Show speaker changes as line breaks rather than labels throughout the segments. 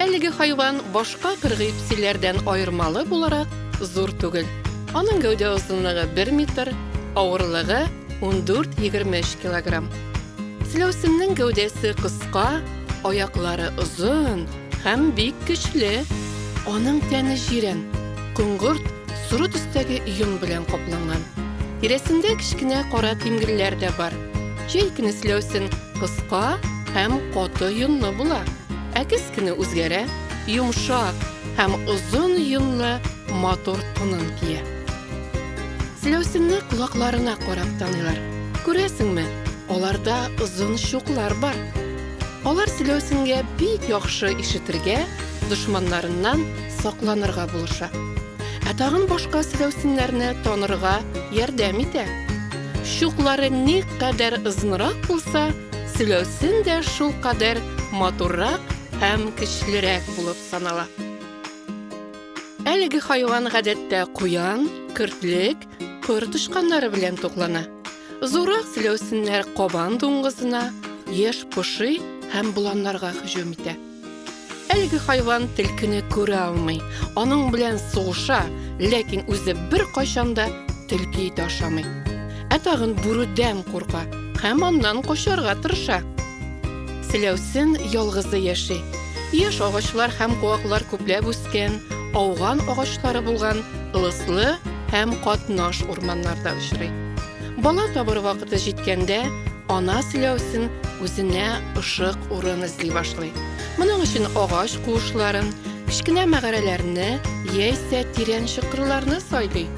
Әлеге хайван башка кыргыйпсиләрдән аермалы буларак зур түгел. Аның гәүдә озынлыгы 1 метр, авырлыгы 14-23 килограмм. Селәүсеннең гәүдәсе кыска, аяклары озын һәм бик көчле. Аның тәне җирән, коңгырт, соры төстәге йон белән капланган. Тирәсендә кечкенә кара тимгелләр дә бар. Җәй көне селәүсен кыска һәм каты йонлы була. Әкес кенә үзгәрә, йомшак һәм озын йонлы матур тунын кия. Селәүсенне колакларына карап таныйлар. Күрәсеңме, аларда озын чуклар бар. Алар селәүсенгә бик яхшы ишетергә, дошманнарыннан сакланырга булыша. Ә тагын башка селәүсеннәрне танырга ярдәм итә. Чуклары никадәр озынрак булса, Сөләсен дә шул кадәр матуррак һәм көчлерәк булып санала. Әлеге хайван гадәттә куян, көртлек, кыр тычканнары белән туклана. Зуррак сөләсеннәр кабан дуңгызына, еш поши һәм боланнарга һөҗүм итә. Әлеге хайван телкене күрә алмый. Аның белән сугыша, ләкин үзе бер кайчанда телки ите ашамый. Ә тагын бүрүдән курка һәм аннан качарга тырыша. Селәүсен ялгызы яши. Яш агачлар һәм куаклар күпләп үскән, ауган агачлары булган лыслы һәм катнаш урманнарда очрый. Бала табыр вакыты җиткәндә, Ана сөйләүсен үзенә ышык урын эзли башлый. Моның өчен агач куышларын, кечкенә мәгарәләрне яисә тирән чокырларны сайлый.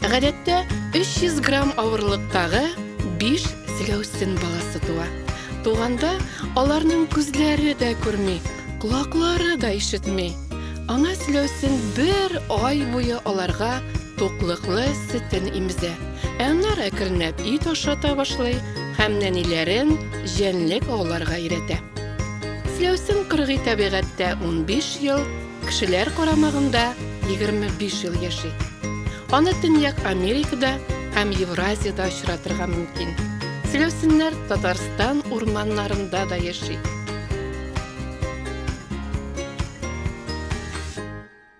Гадәттә, 300 грамм авырлыктагы биш сөйләүсен баласы туа. Туганда аларның күзләре дә күрми, колаклары да ишетми. Ана сөйләүсен бер ай буе аларга туклыклы сөтен имезә. Әннар әкренләп ит ашата башлый һәм нәниләрен җәнлек ауларга өйрәтә. Фләүсем кыргый табигатьтә 15 ел, кешеләр карамагында 25 ел яши. Аны Төньяк Америкада һәм Евразиядә очратырга мөмкин. Фләүсемнәр Татарстан урманнарында да яши.